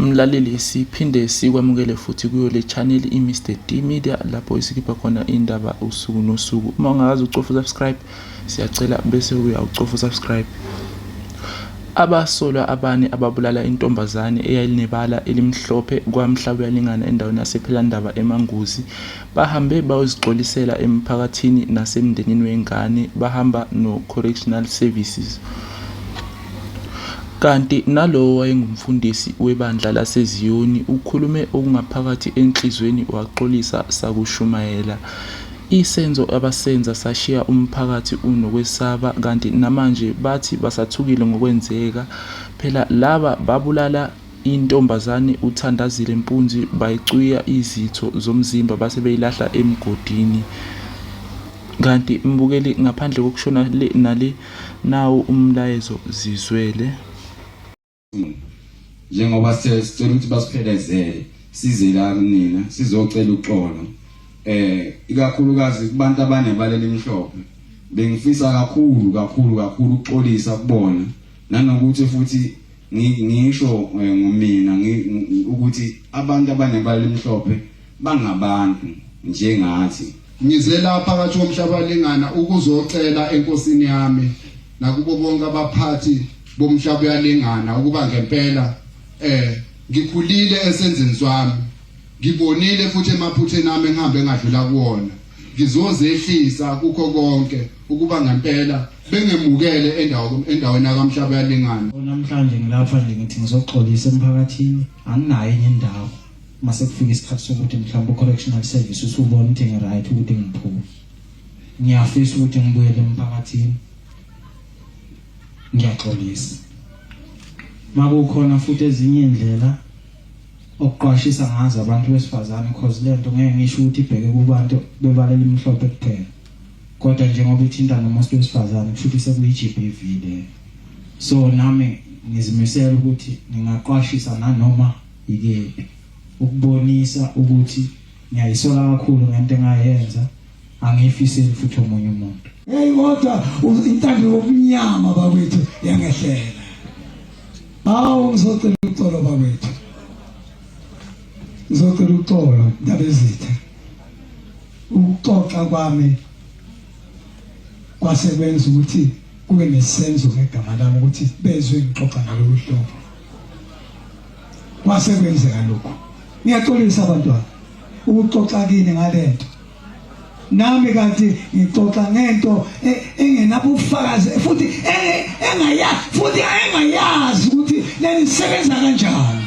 Mlaleli siphinde sikwamukele futhi kuyo le channel i-Mr D Media lapho esikhipha khona indaba usuku nosuku. Uma ungakazi ucofa subscribe siyacela bese uya ucofa subscribe. Abasolwa abane ababulala intombazane eyayilinebala elimhlophe kwamhla kuyalingana endaweni yasephelandaba emanguzi bahambe bayozixolisela emphakathini nasemndenini wengane bahamba no-correctional services Kanti nalowo owayengumfundisi webandla laseZiyoni ukhulume okungaphakathi enhliziyweni waxolisa sakushumayela. Isenzo abasenza sashiya umphakathi unokwesaba kanti namanje bathi basathukile ngokwenzeka. Phela laba babulala Intombazane uThandazile Mpunzi bayicwiya izitho zomzimba base beyilahla emgodini. Kanti mbukeli ngaphandle kokushona le nale nawo umlayezo zizwele. Njengoba sicela ukuthi basiphelezele size la kunina sizocela uxolo eh ikakhulukazi kubantu abanebala elimhlophe bengifisa kakhulu kakhulu kakhulu ukuxolisa kubona nanokuthi futhi ngisho eh, ngomina ukuthi abantu abanebala elimhlophe bangabantu njengathi ngize lapha phakathi komhlaba lingana ukuzocela enkosini yami nakubo bonke abaphathi bomhlaba uyalingana ukuba ngempela eh ngikhulile esenzeni swami ngibonile futhi emaphutheni ami engihambe ngadlula kuwona ngizozehlisa kukho konke ukuba ngempela bengemukele endawo endaweni yakamhlaba yalingana namhlanje ngilapha nje ngithi ngizoxolisa emphakathini anginayo enye indawo mase kufika isikhathi sokuthi mhlawumbe correctional service usubona ukuthi ngiright ukuthi ngiphume ngiyafisa ukuthi ngibuyele emphakathini ngiyaxolisa makukhona futhi ezinye indlela okuqwashisa ngazo abantu besifazane cause lento ngeke ngisho ukuthi ibheke kubantu bebalela imhlophe kuphela kodwa njengoba ithinta nomuntu wesifazane kusho ukuthi sekuyi-GBV le so nami ngizimisela ukuthi ngingaqwashisa nanoma yikephi ukubonisa ukuthi ngiyayisola kakhulu ngento engayenza angiyifiseli futhi omunye umuntu hey kodwa intando yobumnyama bakwethu yangehlela awu ngizocela uxolo bakwethu ngizocela uxolo ndabezitha Ukuxoxa kwami kwase kwenza ukuthi kube nesenzo ngegama lami ukuthi bezwe ngixoxa ngalolu hlobo. Kwase kwenzeka lokho. Ngiyaxolisa abantwana ukuxoxa kini ngalento. Nami kanti ngixoxa ngento e, engenabufakazi futhi e, engayazi futhi engayazi ukuthi leli sebenza kanjani.